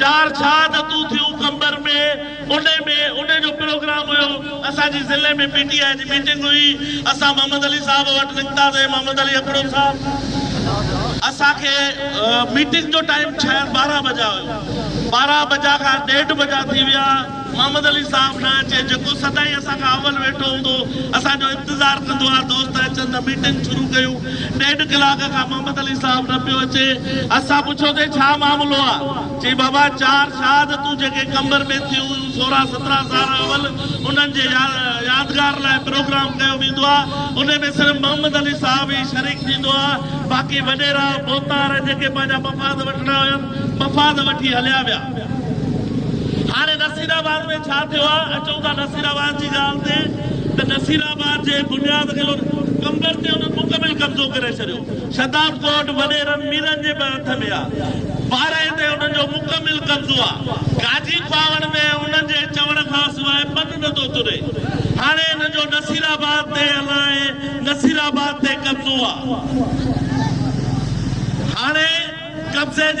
چار شهادتون ٿيون قمبر ۾، انهي ۾ انهي جو پروگرام هيو، اسان جي ضلعي ۾ پي ٽي آء جي ميٽنگ هئي، اسان محمد علي صاحب وٽ نڪتاسين، محمد علي اپڙو صاحب اسان کي ميٽنگ جو ٽائيم ڇهه ٻارهن بجا هيو، ٻارهن بجا کان ڏيڍ بجا ٿي ويا. محمد علي صاحب نه اچي جيڪو سدائين اسان کان اول ويٺو هوندو هو اسان جو انتظار ڪندو ها دوست اچن ته ميٽنگ شروع ڪيون ڏيڍ ڪلاڪ کان محمد علي صاحب نه پيو اچي اسان پڇيو تي ڇا معاملو آ چي بابا چار شاهد تون جيڪي قمبر ۾ ٿيون هيون سورهن سترهن سال اول انهن جي يادگار لاء پروگرام ڪيو ويندو آ انهي ۾ صرف محمد علي صاحب ئي شريڪ ٿيندو آ باقي وڏيرا ڀوتار جيڪي پنهنجا مفاد وٺڻا هيا مفاد وٺي هليا ويا. هاڻي نصير آباد ۾ ڇا ٿيو آهي؟ اچون ٿا نصير آباد جي ڳالهه تي ته نصير آباد جي بنياد گلن قمبر تي انهن مڪمل قبضو ڪري ڇڏيو. شتاب ڳوٺ وڏيرن ميرن جي به هٿ ۾ آهي. ٻارهين تي انهن جو مڪمل قبضو آهي. گاجي کواوڙ ۾ انهن جي چوڻ کان سواء پن نه ٿو تري. هاڻي انهن جو نصير آباد تي الاهي نصير آباد تي قبضو آهي. هاڻي قبضي جي.